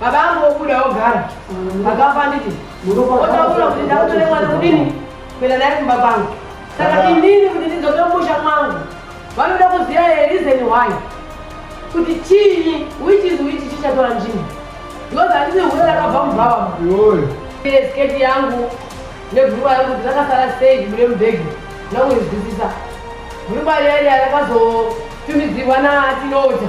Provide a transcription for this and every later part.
Baba angu vobuda vogara vakapa nditi otaura kuti ndakutore mwana kudini kuenda naye kumba kwangu saka inini kuti ndidzoke musha mwangu vanoda kuziva here reason why kuti chii which is which chichatora nzvimbo because handisi hure rakabva mubhava sketi yangu nebhurukwa yangu kuti rakasara sei mune mubhegi ndakuizwisisa bhurukwa riya riya rakazotumidzirwa natinota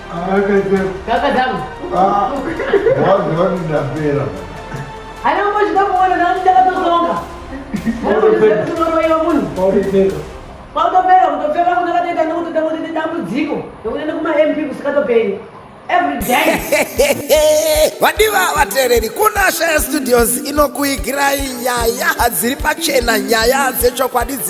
kwautopera kutopfeka kuti akatoita nekuti takuti dambudziko nekuenda kumamp kusikatoperi vadiva vateereri kunasha yestudios inokuigirai nyaya hadziri pachena nyaya dzechokwadi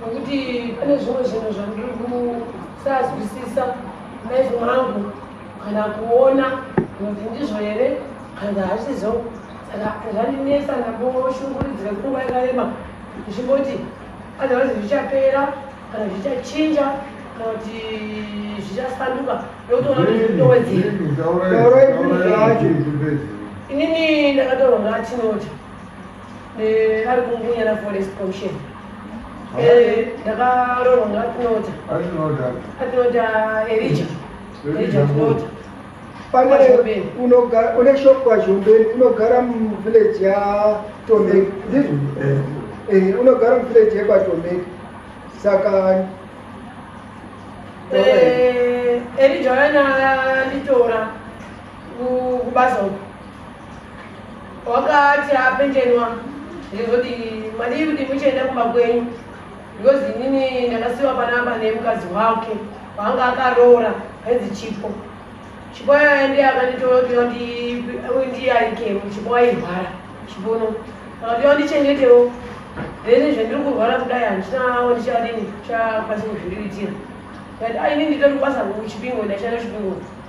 nokuti pane zvimwe zvinhu zvandiri kusazwisisa maizi mangu kana kuona kuti ndizvo here kana hazvizo saka zvandinetsa ndamboshunguridzira kunguva yakarema ndichimboti otherwise zvichapera kana zvichachinja kana kuti zvichasanduka ndokutoona kuti ndowedzera inini ndakataura ngatinoti Eh, ari kungunya na forest commission eh, ndakaroronga atinota atinota erija erija atinota une shop kwazhombeni unogara muvillage yatomeki ndizvo eh. eh, unogara muvillage yekwatomeki saka erija yana nditora kubasa uku wakati apenjenwa ndizoti madii kuti muchaenda kumba kwenyu because inini ndakasiwa panamba nemukadzi wake waanga akaroora ainzi chipo chipo yaya ndiye akanditootiwa ndiye aikemo chipo airwara chipono akatiwa ndichengetewo then zvandiri kurwara kudai handina ndichadini chakwanisa kuzviriritira but ainini nditori kubasa kuchipingo ndashanda chipingo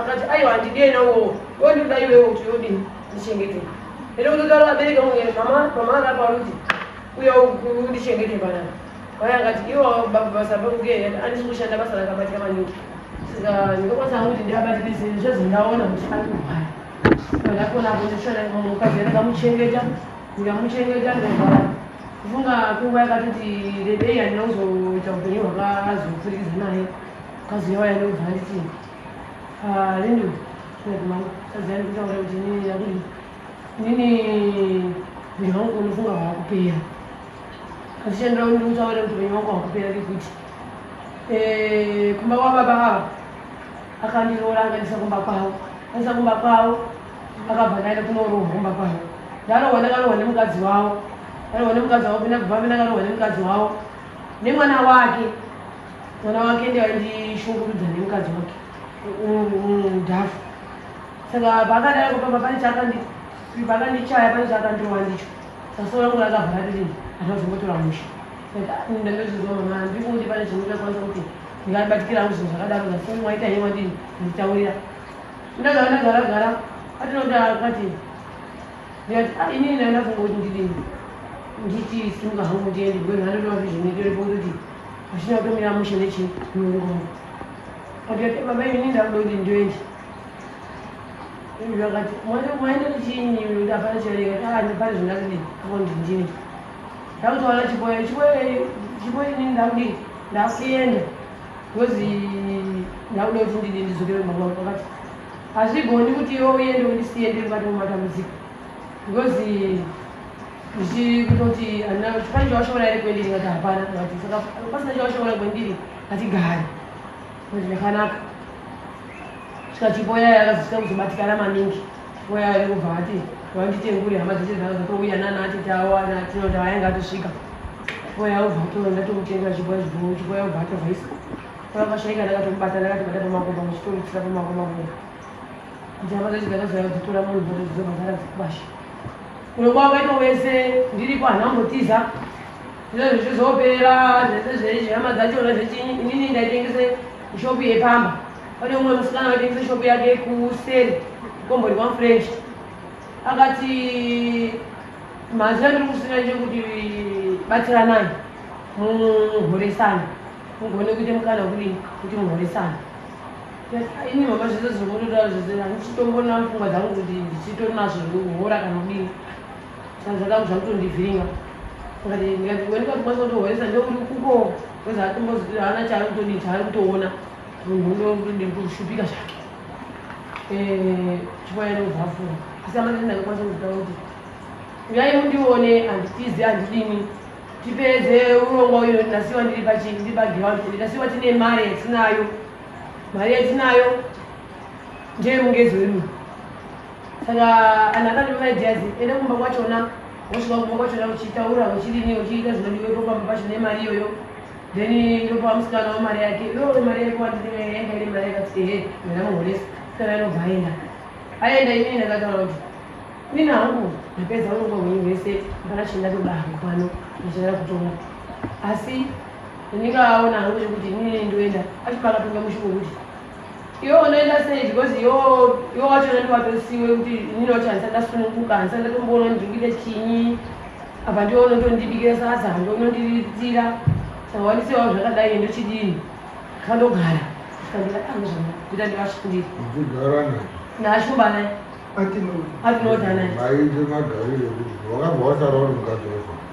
Akati aiwa handidei nawowo wondida iwewo kuti yodini ndichengete ende kutotaro abereke mwe mama mama anga parudzi uye undichengete panapa vaya akati iwo basa pakuke andisi kushanda basa rakabatika maningi saka ndikakwanisa hangu kuti ndiabatikise zvezvo ndaona kuti andiwaya ndakona apo ndishona mukadzi ndakamuchengeta ndikamuchengeta ndikavara kufunga kunguva yakatoti rebei handina kuzoita upenyu hwakazopfurikidza naye kazi yawaya ndokubva nditi Ah, ini ndinokumana tadzani kutaura kuti inini yakudi inini upenyu hwangu unofunga hwakupera azvichandira kuti ndikutaura kuti upenyu hwangu hwakupera kekuti eh, kumba kwababa ava akandiroora akandisa kumba kwavo andisa kumba kwavo akabva ndaenda kunorohwa kumba kwavo ndarohwa ndakarohwa nemukadzi wavo ndarohwa nemukadzi wavo pina kubva pina akarohwa nemukadzi wavo nemwana wake mwana wake ndiye aindishungurudza nemukadzi wake mudhafu saka paakadai kupamba pane chakandichaya pane chakandirova ndicho sasoro yangu rakavhara ririni hata zvongotora musha ndandozvizwa mama handiri kuti pane zvinotakwanisa kuti ndingabatikira hangu zvinhu zvakadaro asi mwaita hei wandini nditaurira ndagara ndagara gara atinoda akati ndikati ah, inini ndandafungoti ndidini nditi simuka hangu ndiende bwenu andotoa zvizvinetore pokuti Hazvina kutomira mushe nechirungu. Akati baba ini ndakuda kuti ndoende. Iye akati mwana mwaenda kuchini yule hapana charewa kana ndipari zvingazidi hapo ndinjini. Ndakutoona chiboya chiboya chiboya ini ndakudi ndakuenda. Ngozi ndakuda kuti ndidi ndizokere kumba kwangu akati hazvigoni kuti iwe uende undisiye ndiri mukati mematambudziko. Ngozi ndichikutoti handina kuti pane chawashoora here kwendiri ndikati hapana ndikati saka pasina chawashoora kwendiri ndikati gari kuti ndakanaka svika chipo yaya yakazosvika kuzobatikana maningi chipo yaya yakubva ati vanditengure hama dzese dzanga dzatouya nana atete avo anatinota vayanga atosvika chipo yaya ubva atora ndatomutengera chipo yazvibhou chipo yaya ubva atovhaisa pavakashaika ndakatomubata ndakatibata pamakomba muchitomutsira pamakomba kona Njava dzacho dzakazara dzitora munhu dzacho dzakazara dzikwasha. Kuno kwavo ino wese ndiripo hana mbotiza. Zvino zvichizopera zvese zveizvi hama dzachona zvechinyi inini ndaitengese ishopu yepamba. Pane umwe musikana waitengese ishopu yake kuseri kombori kwamfrench. Akati mazina ndiri kusina chekuti batsiranai muhoresana mugone kuita mukana wekudini kuti muhoresana Ini mama zvese zviri kundotaura zvese handichitomboona pfungwa dzangu kuti ndichitori nazvo zvekuhora kana kudini saka zvakangu zvakutondivhiringa ngati ngati umweni kwatikwanisa kutohoresa ndouri kuko kweza atombozi haana chaari kutodii chaari kutoona munhu ndodii kushupika zvake eh, chikwaya nobvafura kusamanai ndakakwanisa kuzitaura kuti uyai mundione handitizi handidini tipedze urongwa uyo ndasiwa ndiri pachii ndiri pagiraundi ndasiwa tine mari yatinayo mari yatinayo ndeye mungezi wedu saka anhu akati maideas enda kumba kwachona wosvika kumba kwachona uchitaura uchirini uchiita zvinodiwepo pamba pacho nemari iyoyo then ndopa musikana wemari yake yo mari yake wandinengaenda ine mari yakati ehe mena muhoresa sikana anobva aenda aenda inini ndakataura kuti nini hangu ndapedza urongwa hwenyu hwese ndakachenda toda hangu pano ndichada kutonga asi Ndinenge aona hangu zvekuti inini nini ndoenda acho pakapinda mushumo kuti iwe unoenda sei because yo yo wacho nandi watosiwe kuti inini wacho handisa ndasununguka handisa ndatomboona ndikuita chinyi apa ndiwe unotondibikira sadza hando unondiritira saka wandisewa zvakadai ndochidini kandogara kandira angu ah, zvana kuita ndivashandiri ndigara naye naashumba naye atinodanaye maite magarire kuti wakabva wasara uri mukadzi wazvaa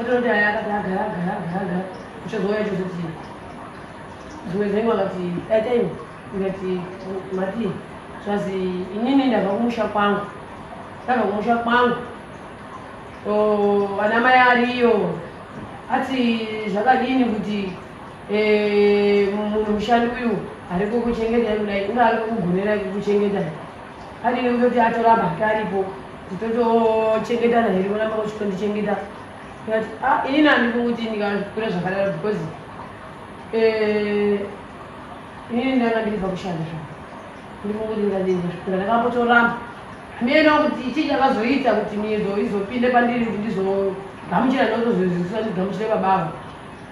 Ototi aya akati agara agara agara agara uchazouya chozoti dzimwe dzengu akati daitaiwo ndikati mati zvazi inini ndabva kumusha kwangu ndabva kumusha kwangu vana mai ariyo ati zvakadini kuti eh, munhu mushandi uyu ariko kuchengeta kudai unga ariko kugonera kuchengeta Adini kutoti atoramba hake aripo titotochengetana here kuramba kuchikondichengeta but ah, inini handifuni kuti ndikakura zvakadaro because eh, inini ndanga ndikubva kushanda zva ndifuni kuti ndikadinzasvikura ndakambotoramba miyena kuti chii chakazoita kuti miyedzo izopinde pandiri kuti ndizogamuchira ndotozoziviswa ndigamuchire babavo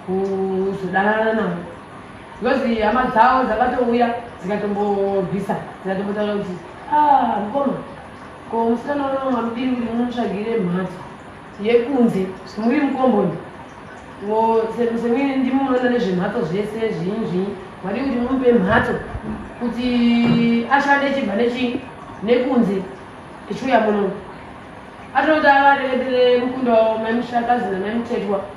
kuzodanana navo Because hama dzavo dzakatouya dzikatombobvisa dzikatombotaura kuti ah, mukoma ko musikana unono mamudiri kuti munotsvagire mhatso yekunze muri mukomboni semwene ndimi munoona nezvemhatso zvese zvinyi zvinyi mari kuti mumupe mhatso kuti ashande chibva nechi nekunze echiuya munono atonoti avareetere mukunda wavo maimushakazi namaimutetwa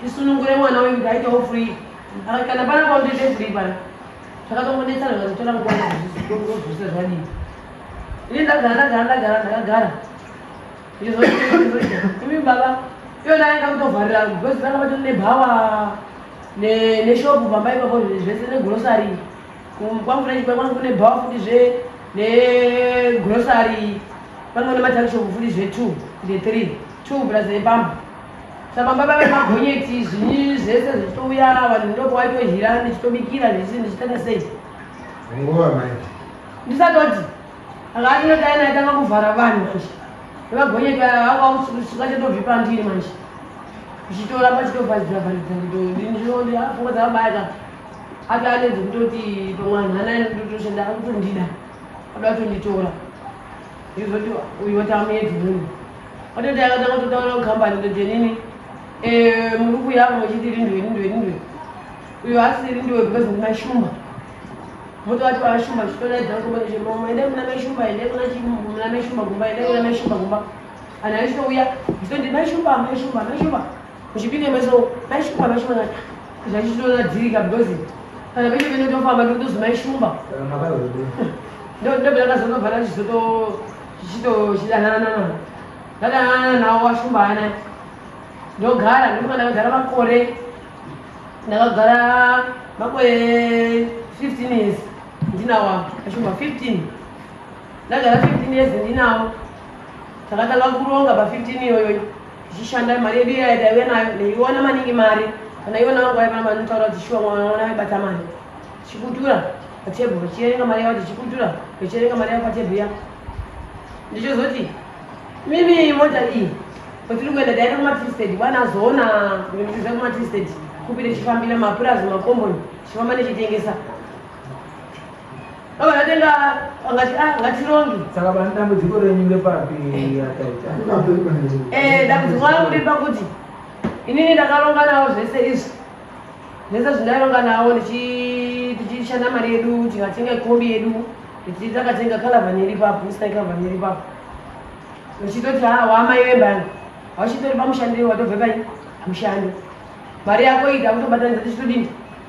tisunungure mwana wenyu kuti aitewo free ah, kana pana kwautete free pana zvakatongonetsana zvakazotora nguvaozvisa zvadii ini ndagara ndagara ndagara ndakagara imi baba iyona yanga kutovharira because vanga vatori nebhawa neshopu pamba ipapo zvese negrosary kwamfurachi kwanga kune bhawa futi zve negrosary kwanga kune matakishopu futi zve two ne three two plus nepamba Saka baba vemagonyeti zvinyi zvese zvichitouya vanhu ndoko waitohira ndichitobikira ndichii ndichitanga sei? Nguva mai. Ndisatoti anga atinodai naye tanga kuvhara vanhu manje. Vemagonyeti aya vakausuka chatobvipa ndiri manje. Zvichitora pachitovharidzira vharidzira kuti ndini zvinondi apfungwa dzakabaya ati anenzi kutoti pamwe anhu anaye ndotoshanda akutondida. Adoda kutonditora. izoti uyu watamuedzi munhu watoti akatanga kutotaura kukambani kuti nini eh, muri kuyavo muchiti rindwe rindwe rindwe uyo asi rindwe because muna shumba motovati vashumba zvitodaidza kutobaezvemamo endai muna meshumba endai muna meshumba gumba endai muna meshumba gumba anhu aisouya zvitondimeshumba meshumba meshumba Kuchipinge meso maishumba maishumba ngati zvachitoona dzirika because kana pese pese tofamba ndikutozi maishumba ndobela kazonobva nachizoto chichichidanana ndadanana nawo washumba ana ndogara ndikuka ndakagara makore ndakagara makore 15 years ndinawo ashumba 15 ndagara 15 years ndinawo takatanga kuronga pa 15 iyoyoyo zvichishanda mari yedu iya yataive nayo ndaiona maningi mari kana ivo navo vaiva namari notaura kuti shuwa mwana mwana vaibata mari chikutura patebhu vachiverenga mari yavo tichikutura vachiverenga mari yavo patebhu ya ndichozoti mimi mota iyi kwatiri kuenda taenda kumatristed bwana azoona kuendesa kumatristed kupire chifambira mapurazi makomboni chifamba nechitengesa Baba ndatenga ngati ah ngati rongi. Saka bana dambudziko renyu ngepapi yakaita? Eh dambudziko rangu riri pakuti inini ndakaronga nawo zvese izvi. Zvese zvindaironga nawo ndichi tichishanda mari yedu tikatenga kombi yedu tichi takatenga kalavhani iri papo isina kalavhani iri papo. Uchitoti ha ah, waamai vembani. Auchitori pamushandiro watobve pai? Mushando. Mari yako ita kutobatanidza tichitodini?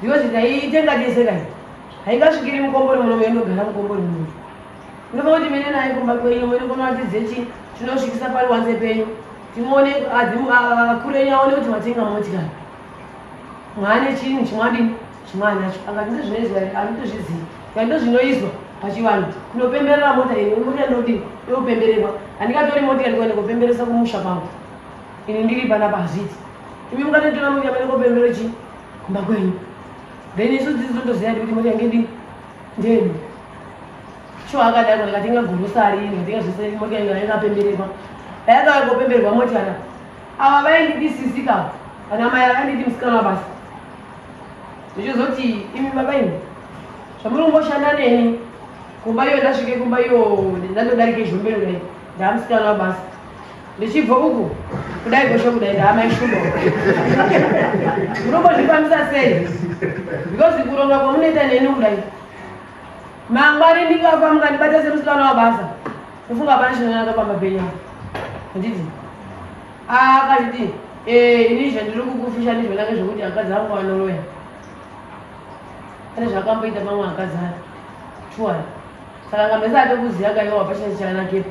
Because ndaiite ngateseka iyi. Haingasvikiri mukombori muno meinogara mukombori muno. Ndova kuti mene naye kumba kwenyu mene kunoratidze chi chinosvikisa pari wanze penyu. Timuone adzimu akure nyaone kuti matenga motika. Mwana chini chimwadi chimwana nacho. Angati ndozvinoizwa anotozviziva. Kandi ndozvinoizwa pachivanhu. Kunopemberera mota iyi, mota inodi yopembererwa. Andikatori mota ndikuende kopemberesa kumusha kwangu. ini ndiri panapa hazviti imi mukatotora mweya mene kopembero chii kumba kwenyu then isu dzidzi totoziva kuti mweya yange ndini ndeni sho akadaro ndikatenga gorosari ndikatenga zvese mweya yange yakapembererwa ayakauya kopemberwa moti ana ava vaindidi sisi ka ana mai akandidi musikana basa ndichizoti imi baba imi zvamuri kungoshanda neni kumba iyo ndasvike kumba iyo ndandodarike zvombero dai ndamusikana basa Ndichibva uku kudai gosho kudai ndaamai shumba munombozvifambisa sei because kuronga kwamunoita neni kudai mangwari ndikafa mukandibata semusikana wabasa ndofunga hapana chinonaka pamba penyu handiti akanditi eh, ini zvandiri kukufisha ndizvonake zvekuti akadzi angu anoroya pane zvakamboita pamwe akadzi ake shuwa saka ngamesa atokuziya kaiwa hapachina chanakepo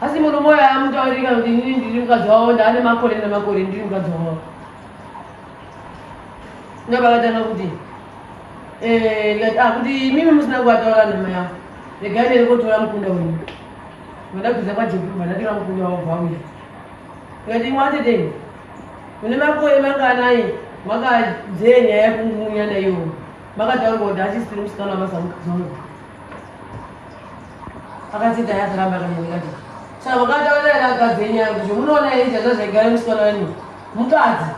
asi munhu moyo amutaurika kuti inini ndiri mukadzi wavo ndaane makore nemakore ndiri mukadzi wavo ndopakatanga kuti eh, ah, kuti imimi musina kuvataura nhama yavo regai nere kotora mukunda wenyu vandabviza kwajekubva ndatora mukunda wavo vauya ndikati imwatedei mune makore manganai makadzee nyaya yekumunya naiwo makataurwa kuti achisiri musikana wamazamukadzi wangu akadzidza yakaramba kanaikati saka vakataura ere akadzi enyaya kuti munoona here izvazvo zvaigara musikana wenyu mukadzi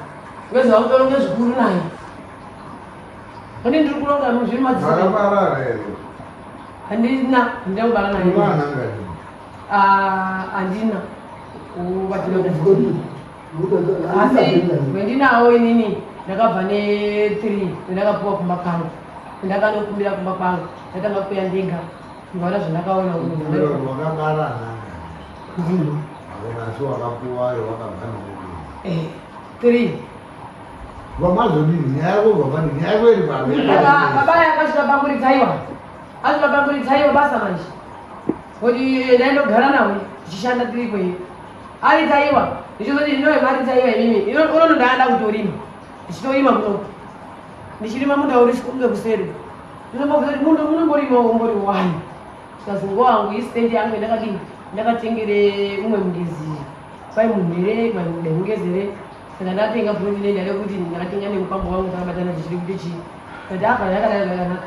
wezva kutoronge zvikuru naye kune ndiri kuronga muzviri madziaabarara here handina handina kubara naye andina kubatira asi wendinawo inini ndakabva ne3 ndakapuwa kumba kwangu ndakanokumbira kumba kwangu ndatanga kuya ndega ndikaona zvandakaona three vamazodini nyaya yako vavani nyaya yako iri pababa yakasvika pamuridzaiwa asvika pamuridzaiwa basa manje kuti ndaindogara nawo tichishanda tiri kwei Ari taiwa. Ndichizoti ndinowe mari taiwa imimi. Ino unono ndaada kutorima. Ndichitorima kuno. Ndichirima munda uri sikunge kuseri. Ndinombobvunza kuti munda unomborima umbori wani. Sikazi nguva wangu isitendi yangu yandakadini. Ndakatengere umwe mugezi. Kwai munhu here, kwai mude mugezi here. Saka ndatenga futi ndenda rekuti ndakatenga nemukwambo wangu takabatana tichiri kuti chii. Ndati apa ndakadai zvakanaka.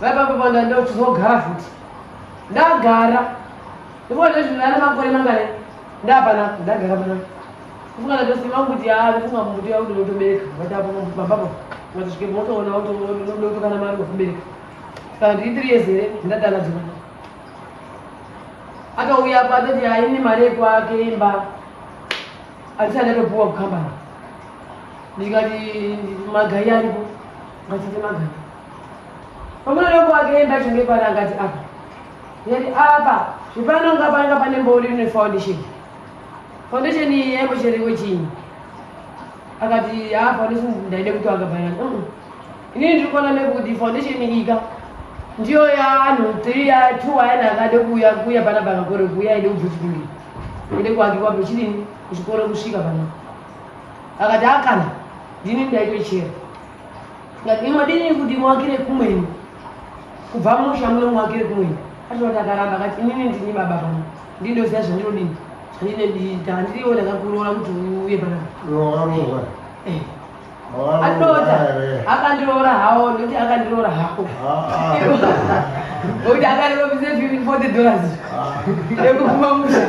Vaipapa panda ndokuzogara futi. Ndagara. Ndipo ndezvi ndana makore mangare. Ndapana ndagara pana. Kufunga na dosi mangu kuti ah kufunga mbuti yao ndio utobereka. Watapo mambo baba. Watashike moto ona auto ndio utokana mali kubereka. Sasa ndi 3 years here ndadana dzima. Akauya apa atati haini mari yekwake imba. Alisana ndopuwa kukambana. Ndikati magai aripo. Ngatite magai. Pamwe loko akaenda chenge pari angati apa. Yari apa zvipano nga panga pane mbori ne foundation. Foundation iyi yaivo cherevo chinyi. Akati ha foundation ndaide kuti wanga pari. Uh -uh. Ini ndiri kuona nekuti foundation iyi ka ndiyo yaanhu 3 ya 2 ayana akade kuuya kuya pana banga kore kuya ide kubvutikundi. Ide kuakiwa pechidini kuchikoro kusvika pano. Akati akana ndini ndaitochera. Imadini kuti muwakire kumweni kubva musha muno muwakire kumweni atinoti akaramba akati inini ndini baba pano ndindoziva zvandinodini zvandinodiita handiriwo ndakakuroora kuti uye panapa eh. atota akandiroora hawo ndokuti akandiroora hako nokuti ah, ah. akandiroora forty dollars ah. yekupuma musha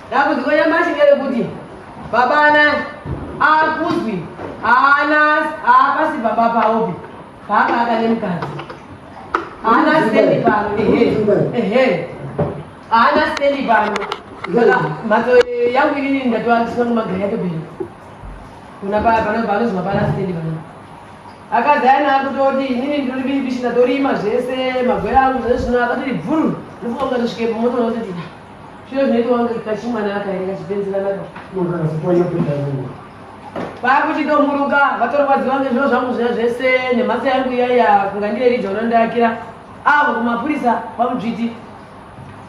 Dambudziko nyamashi nderekuti baba ana akuzwi haana haapasi baba paopi paanga akane mukadzi haana stendi pano ehe haana stendi pano saka mhatso yangu inini ndatova ndisina kumagari yacho bhero kuna panozwa pana stendi pano akadzi aina akutoti inini ndiribibishi ndatorima zvese magwera angu zvezvino akatoti bvuru ndifunga kuti ndisvike pamoto nototi Zviro zvinoitwa kunge kachimwana aka here kachipenzerana ka. Munhu akazopanya kuita zvinhu. Vakuchida kumuruka vatorwadziwa ngezviro zvangu zviya zvese nemhatsa yangu iyaya kunga ndiye rija unondiakira avo kumapurisa kwamudzviti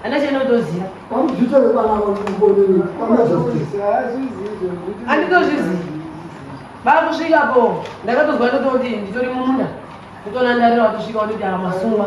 ana chene utoziva Kwamudzvita vekwana kwamukonini kwana justice. anditozvizivi vakusvika po ndakatozwa ndototi nditori mumunda kutonandarira wakusvika watoti amasungwa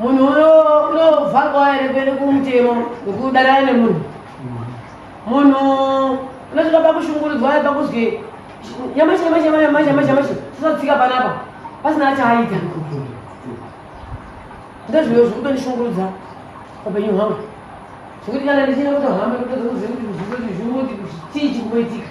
munhu unovharwa here kuende kumutemo wekudanana nemunhu munhu unosvika pakushungurudzwa ye pakuzwi nyamashi nyamashi nyamashi nyamashi nyamashi tisatsika panapa pasina achaaita ndezviyo zviri kutondishungurudza papenyu hwangu zvekuti kana ndichina kutohamba kutodza kuziva kuti zvikuti zvimuti chii chiri kuitika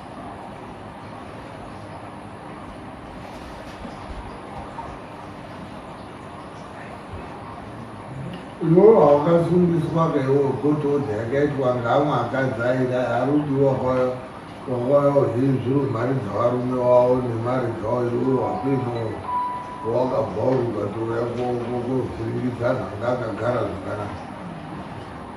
iwewo haukasungwiswa kaiwo gotodza yakaitwa ngamwe akadzaira harudi wakwayo wakwayo hezviro mari dzavarume wavo nemari dzavo iwewo hakuinowo wakabva uri ukatouya kovhiringidza zvanga akagara zvakanaka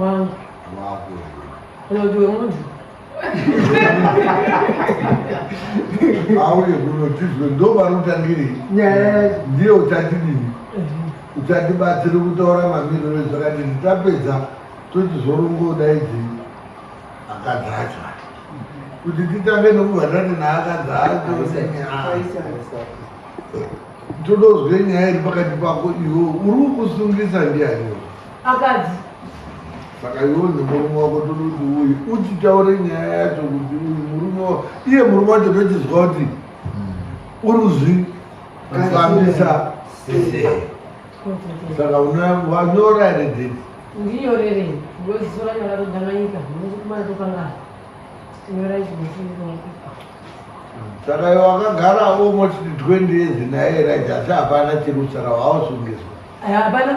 Wow. Kana kuti wemunhu. Auye kuno tizwe ndopanotangiri. Yes. Ndiye uchatidini. Uchatibatsiri kutaura mamiriro ezvakadini tapedza tochizorongoda idzi akadzacha. Kuti titange nokuvhatani naakadza acho. Todozwe nyaya iri pakati pako iwe uri kusungisa ndiani. Akadzi. Saka iwe nemurume wako todi kuti uyu uchitaure nyaya yacho kuti uyu murume wa iye murume wacho tochizwa kuti uri kuzvi kufambisa sese. Saka unoya wanyora here date? Ndinyorere. Ngozisora nyora todanganyika. Ndikukumana tokangana. Nyora izvo mushini saka iwe wakagara almost 20 years naye right asi hapana chiri kusara waosungizwa hapana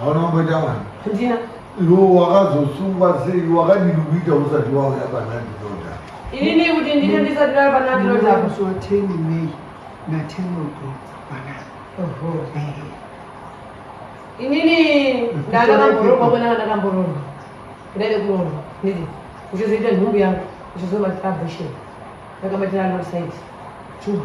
hauna kumboita mwana ndina iwe wakazosungwa sei wakadii kuita usati wauya panandinoda inini kuti ndine ndisati ndauya panandinoda kusuwa teni mei natenoko mwana inini ndandakamboroorwa kwena ndandakamboroorwa ndaide kuroorwa nditi uchizoita nhumbu yangu uchizomatira abhisheni ndakamatira anosaiti chuma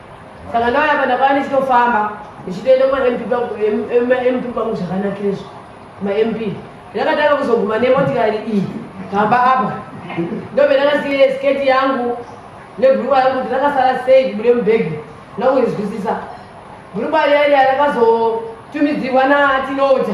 saka ndauya apa ndakava ndichitofamba ndichitoenda kumamp pangu zvakanakirezvo mamp ndakatanga kuzoguma nemotikari iyi pamba apa ndobe ndakasiye sketi yangu nebhurukwa yangu kuti rakasara sei kubude mubhegi ndakuizwisisa bhurukwa riya riya rakazotumidzirwa natinota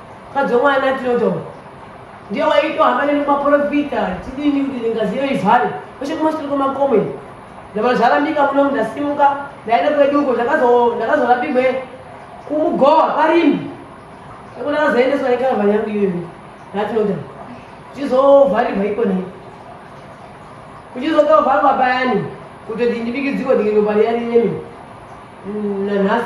Mukadzi wemwana Theodore ndiye waitohamba neni kumaporofita tidini kuti ngazi iyo ivhare kweshe kumashure kwemakomo iyo ndamana zvarambika muno ndasimuka ndaenda kwedu uko ndakazorapirwe kumugowa parimbi eko ndakazoendeswa nekarava yangu iyoyo natinota kuchizovharirwa iko nei kuchizokavharwa payani kutoti ndibikidziko ndikinopa riya rinemi mm, nanhasi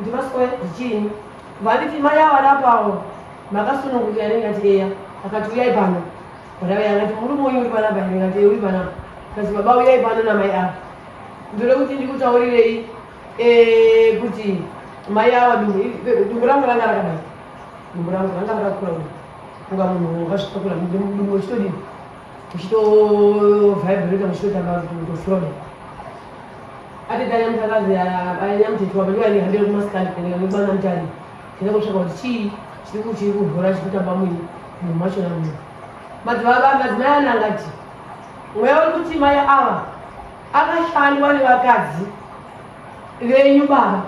Ndivaswe zvichini vaniti mai ava napawo makasununguka ane ngati eya akati uyai pano bharawe angati murume uyu uri panapa ane ngati uri panapa kasi baba uyai pano namai ava ndode kuti ndikutaurirei eh, kuti mai ava dumbu rangu ranga rakadai dumbu rangu ranga rakakura unga munhu wakazvitakura dumbu uchitodii kuchitovibrata kuchitoita mafoni atitanya mutakazi anyamutetu wamene vaihambira kumasikani kuenda nekubana mutani tenda kutsvaka kuti chii chiri kuchiri kuvhura chiri kutamba mwini munhu macho na munhu madzimai ana angati mweya uri kuti mai ava akashandwa nevakadzi venyu baba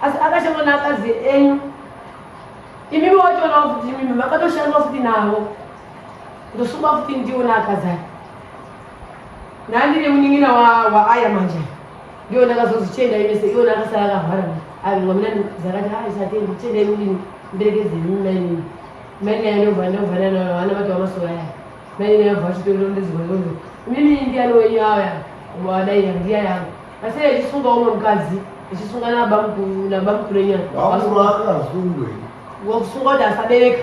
asi akashandwa neakadzi enyu imimi watoona kuti imimi makatoshandwa futi navo ndosungwa futi ndiona akazara nandine munin'ina waaya manje ndiyo ndakazozi chienda imese iwona akasara akahwara avinwa mina ndizakati hai satendi chienda imudini ndirekezeni mainini mainini anova ndova nanaana vati vamasoka aya mainini anova achitoiro ndizivairondo mimi ndiani wenyu aya wadai yandiya yangu asi achisunga umwe mukadzi achisunga nabamkurenyana wakusunga kuti asabereka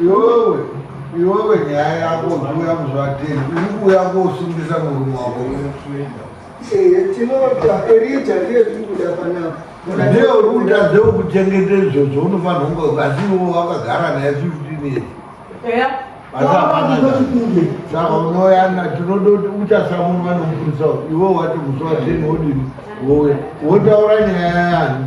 Iwewe, iwewe nyaya yako uya muzvatei, uri kuuya kosungisa murume wako. Eh, tinoda Erija ndiye zviri kuda panapa. Ndiye uri kutadza kuchengeta izvozvo unofanira kunge asi iwo wakagara naye 15 years. Eya. Saka unoyana tinoda kuti uchasamunwa nomupurisa iwe wati musi wa 10 wodini wowe wotaura nyaya yani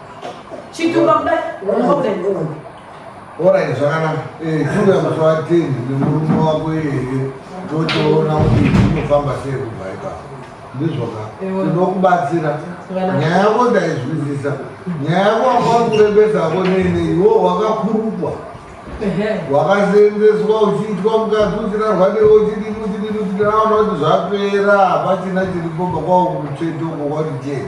Chitumba kuda problem. Alright, zvakanaka. Eh, tuga mswatini nemurume wako here totoona kuti tinofamba sei kubva ipapo. Ndizvoka. Tinokubatsira. Nyaya yako ndaizwisisa. Nyaya yako wakwa kurembesa ko nene iwo wakakurukwa. Wakaseenzeswa uchiitwa mukati uchirarwa newe uchidini uchidini uchidini aona kuti zvapera hapachina chiripo bakwawo kumutsveto uko kwati chete.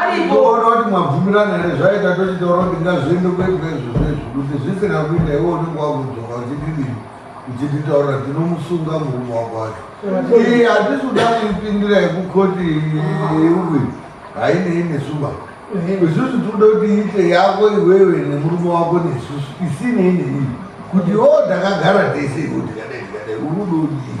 aripooti mwabvumirana here zvaita tochitaura kuti ngazviende kuitwa izvo zvezvo kuti zvisina kuita iwe unenge wakudzoka uchididii uchititaurira tinomusunga murume wako wacho iyi hatisi kuda kuipindira yekukoti yeuwi hainei nesuba isusu tikuda kuti iite yako iwewe nemurume wako nesusu isinei neiyi kuti o takagara tese kuti kadai tikadai urudo udii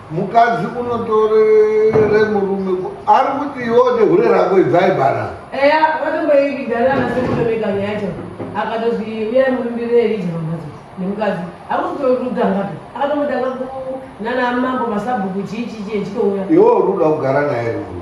mukadzi unotorere murume ari kuti iwo nehure rako idzai bana eya vatomboividana nasekutomeka nyaya cho akatozwi uya murumbire elija pamhatso nemukadzi akutorudangapi akatomudanga nana mambo masabhuku chii chichii echitouya iwo ruda kugara naye rumu